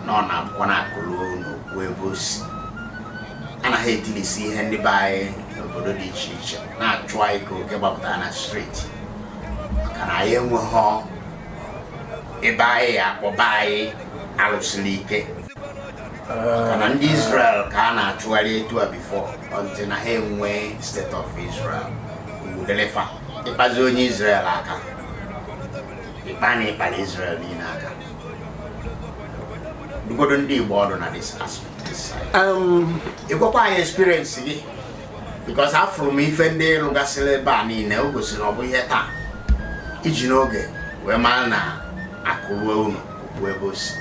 na ọ na-abụkwa na akụ ruo ụnọ o kwuo ebe o si anaghị etilisi ihe ndị be anyị n'obodo dị iche iche na-achụ anyị ka oke gbapụtara na street maka na anyị enweghị ebe anyị akpọ be anyị alụsiri ike maka na ndị Israel ka a na-achụgharị etu a before until na ha enwe state of Israel udelefa ịkpazi onye Israel aka ịkpa na ịkpara Israel niile aka dụgodu ndị Igbo ọdụ na this aspect this side um, ị gwakwa anyị experience gị because afụrụ m ife ndị ị rụgasịrị ebe a niile o gosiri ọ bụghị taa i ji n'oge wee mara na akụ ruo ụnọ o kwuo ebe o si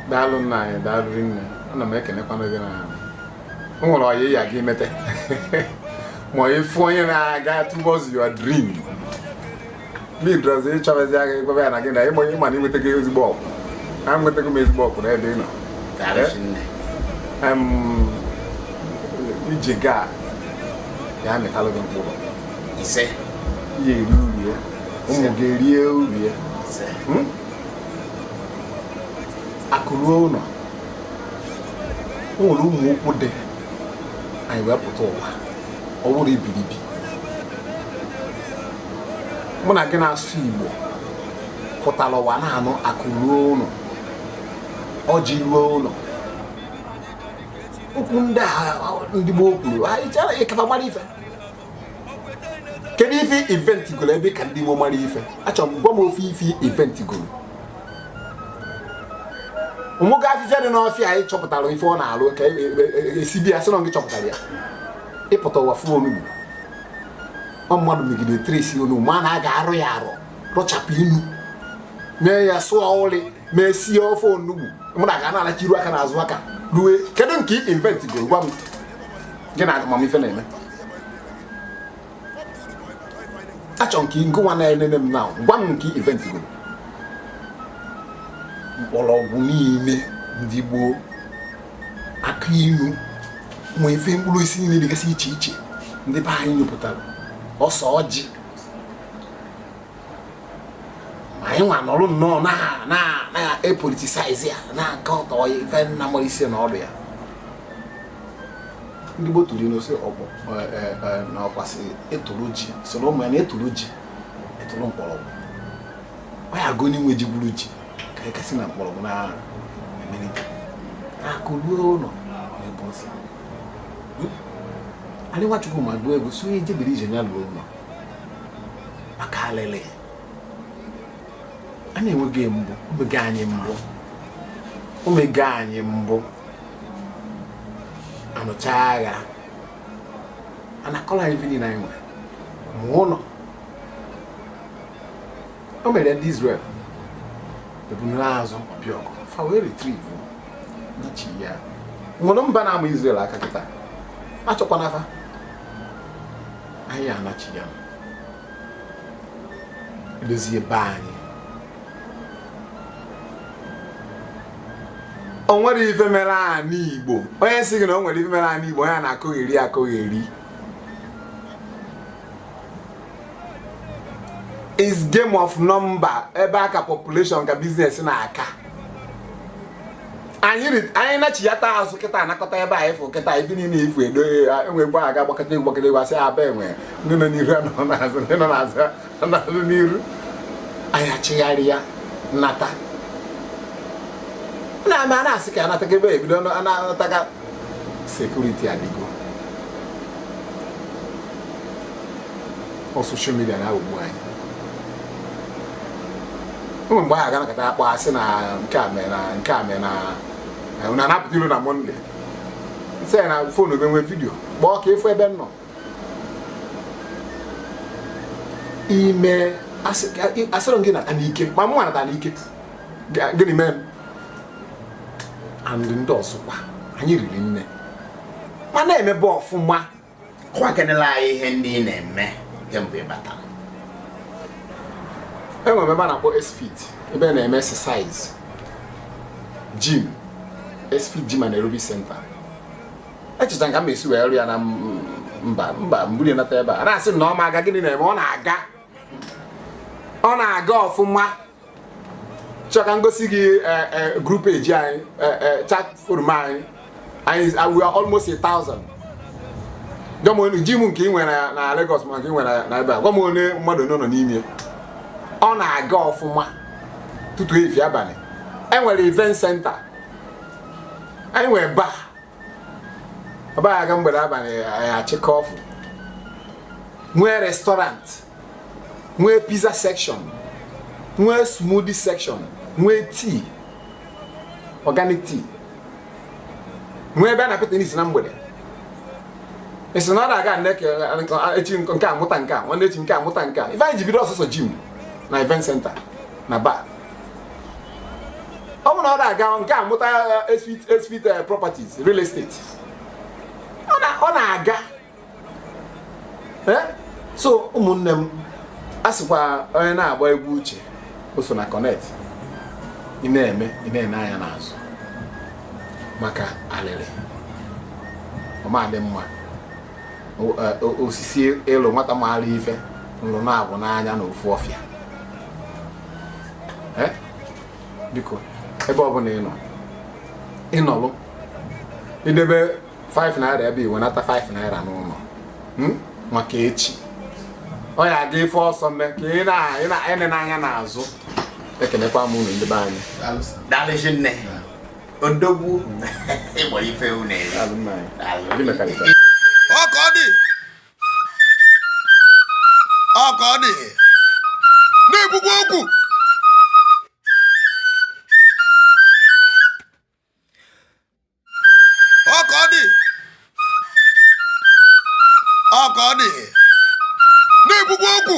daalụ nna anyị daalụ nne ana m ekenekwanụ gị na o nwere ọyị ya gị mete ma ịfụ onye na-aga towards your dream bidozie ịchọbazi aka ịgwaba ya na gị na ịma onye ịma na i nwetago ezigbo okwu na enwetago m ezigbo okwu n'ebe ị nọ Em, ije gị a ya-amịtalụ gị mkpụrụ ise ị ya-eri uru ya ụmụ gị erie uru ya ise Hmm? akụ ruo ụnọ o nwere ụmụ okwu dị anyị wee pụta ụwa ọ wụrụ ibiribi mụ na gị na-asụ igbo pụtara ụwa na-anụ akụ ruo ụnọ ọjị ruo ụnọ okwu ndị a ndị gboo kwuru anyị chọrọ ịka fa mara ife kedu ife i invent goro ebe ị ka ndị gboo mara ife achọrọ m gwa m ofu ife i invent goro ụmụga afịfịa dị n'ọfịa anyị chọpụtara ife ọ na-alụ ka esibi ya sị na gị chọpụtara ya ị pụta ụwa fụ onugbu ọ mmadụ megide trace onugbu ma na a ga-arụ ya arụ rụchapụ inu mee ya sụọ ụlị mee sie ofe onugbu mụ na gị na-alacha iru aka na azụ aka rue kedu nke i invent goro gwa m gị na amamife na-eme achọ m ka ngịnwa na-enene m na gwa m nke i invent goro mkpọrọgwụ niile ndị gboo akụ ilu ma ife mkpụrụ osisi niile dịgasị iche iche ndị be anyị nyopụtara ose ọjị ma anyị nwa nọrụ nnọọ na-epoliticize ya na-akatọ ife na amarọ isi na ọdụ ya ndị Igbo tụrụ ilu sị na ọkwa sị ị tụrụ ji sịrị ụmụ ya na ị tụrụ ji ị tụrụ mkpọrọgwụ ọ ya-abụ onye nwe ji gwuru ji ka anyị kasị na mkpọrọgwụ na emelite akụ ruo ụlọ n'ebe ozi anyị nwachukwu ma gụọ egwu sị onye jebiri ije ya ruo ụlọ maka alele a na-enweghị mbụ omego anyị mbụ omego anyị mbụ anụcha agha anakọrọ anyị ife niile anyị nwere ma ụlọ o mere ndị Izrel ebunere azụ ọbịa ọgụ fa wee retrieve nachighaa o nwere mba na-ama Izrel aka kịta achọkwana afa anyị anachighaa dozie be anyị o nwere ife mere ana igbo onye sị gị na o nwere ife mere ana igbo onye na-akọgheri akọgheri is game of number ebe aka population ka business na-aka anyị nachighata azụ kịta anakọta ebe anyị fụ kịta ife niile ifu edo e nwee mgbe a ga gbakọta egwu gbakọta egwu asị aba enwe ndị nọ n'iru anọ n'azụ ndị nọ n'azụ anọ n'iru anyị achigharịa nata na-ama na-asị ka anataga ebe ebido anataga security adịgo ọ social media na-aghọgbu anyị nwee mgbe a ga-anọkata akpọ asị na nke a mee na nke a mee na na a na-apụta ilo na Monday m sị ya na phone ebe nwee video call ka ị fụ ebe m nọ ime asịrọ gị nata n'ike ma mụ nata n'ike gịnị mee m and ndị ọzọkwa anyị riri nne ma na-emebe ọfụma gwakenela anyị ihe ndị ị na-eme kemgbe ị batara enwere ebe a na-akpọ S-Fit ebe a na-eme exercise gym S-Fit gym and aerobic center echeta ka m esi wee rụọ ya na mba m buru nata ebe a na-asị na ọ ma aga gịnị na-eme ọ na-aga ọ na-aga ọfụma chọọ ka m gosi gị eh, eh, group page anyị eh, eh, chat forum anyị anyị is- we are almost a thousand gwa m onye gym nke ị nwere na- na Lagos ma nke ị nwere na ebe a gwa m onye mmadụ nọ nọ n'ime ọ na-aga ọfụma ụtụtụ efifie abalị enwere event center anyị nwere bar ọba ya aga mgbede abalị anyị achịkọ ọfụ nwee restaurant nwee pizza section nwee smoothie section nwee tea organic tea nwee ebe a na-apịta n'isi na mgbede e si na ọ na-aga echi nke a mụta nke a nwanne echi nke a mụta nke a ife anyị ji bido ọ sọsọ gym na event center na bar ọ bụ na ọ na-aga nke a mụta esfit eh, eh, properties real estate ọ na-aga eh? so ụmụnne m a sịkwa onye na-agba egwu uche o so na connect ị na-eme ị na-ene anya n'azụ maka alịrị ọ ma-adị mma eh, osisi ịlụ nwata maara ife nlụ naabọ n'anya na ofu ọfịa eh? biko ebe ọ bụla ị nọ ị nọlụ i debe 5 naira ebe i wenata 5 naira n'ụnọ hmm? maka echi ọ ya aga ife ọ sọ mee ka ị na-ene anya n'azụ ekenekwa m unu ndị be anyị daalụ rinne odogwu Igbo ife unu ọ ka ọ dị ọ ka ọ dị na-ekwukwa okwu ọ ka ọ dị ọ ka ọ dị na-ekwukwa okwu